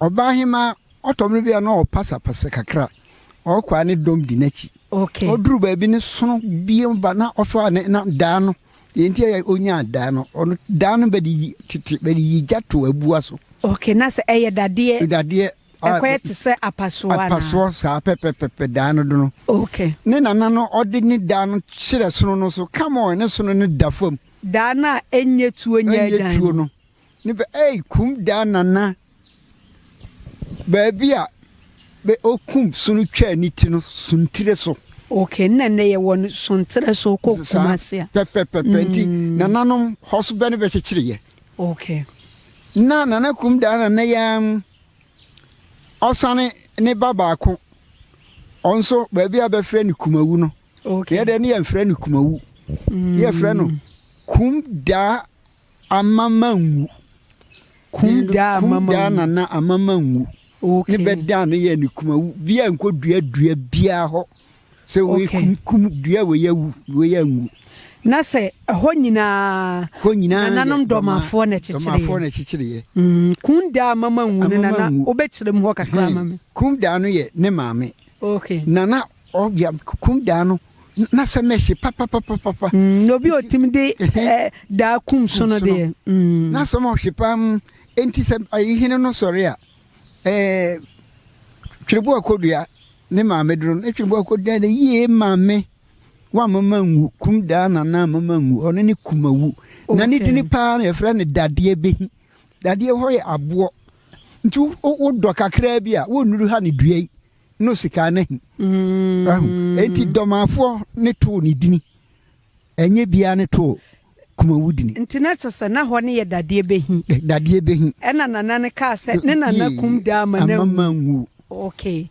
Ɔbaahemaa ɔtɔ mmere bi a na ɔpasapasa kakra. Ɔkɔ a ne dɔm di n'akyi. Ɔduru baabi no sono biam ba na ɔfa ne na daa no. Deɛ nti a ɔnyaa daa no, ɔno daa no bɛde yi tete bɛde yi gya to abua so. Ok, na sɛ ɛyɛ dadeɛ. Dadeɛ. Ɛkɔyɛ te sɛ apasoɔ anaa? Apasoɔ saa pɛpɛpɛpɛ daa no do no. Ok. Ne nana no ɔde ne daa no hyerɛ sono no so, come on ne sono no da fam. Daa no a ɛnyɛ tuo nyɛ agyan no. Ɛnyɛ tuo no. Ne bɛ ei kum daa nana baabi a bɛ okum sono twaa ne ti no Sontere so. Okay nna nnɛ yɛ wɔ no Sontere so kɔ Kumase a. Pɛpɛpɛpɛ nti nananom hɔ so bɛ ne bɛ kyekyere yɛ. Okay. Nna nana kum daa nana yi ara mu ɔsane ne ba baako ɔnso baabi a bɛ frɛ no Kumawu no. Okay. Yɛ dɛ ne yɛ nfrɛ no Kumawu. Mm. Yɛ frɛ no kum daa Ama manwu. Kum da a ama manwu. Kum da na ama manwu. Okay. Ne bɛ da no yɛ ne kuma wu. Bi a nkɔ dua dua biara hɔ. Sɛ wei okay. kum kum dua wei awu wei anwu. Na sɛ ɛhɔ nyinaa. Hɔ nyinaa yɛ nananom dɔmafoɔ na ɛkyekyere yɛ. Dɔmafoɔ na ɛkyekyere yɛ. Mm, kum da a ama manwu ne nana wobɛkyerɛ mu hɔ kakra ama me. Kum da no yɛ ne maame. Okay. Nana Ɔbea kum daa no na sɛ na ɛhye papapapapa. Mm, na obi otimi de eh, daa kum so no deɛ. Mm. Na sɛ ɔma ɔhye paa mu, enti sɛ ayihene no sɔre a, eh, twerebo akodua ne maame duro no, twerebo akodua de yie maame wa mama nwu, kum daa nana mama nwu, ɔno ne kumawu. Okay. Na ne dini paa na yɛfrɛ no dadeɛ behi. Dadeɛ hɔ yɛ aboɔ. Nti wodɔ kakraa bi a, wonnuru ha ne dua yi. no sika no hi. Wahu? Enti Dɔmafoɔ ne too ne dini. Ɛnyɛ biara ne too Kumawu dini. Nti na kyerɛ sɛ na hɔ no yɛ dadeɛ bɛ hi. Dadeɛ bɛ hi. Ɛna Nana no kaa sɛ ne Nana kum daa ama no anwu. Ama no anwu. Okay.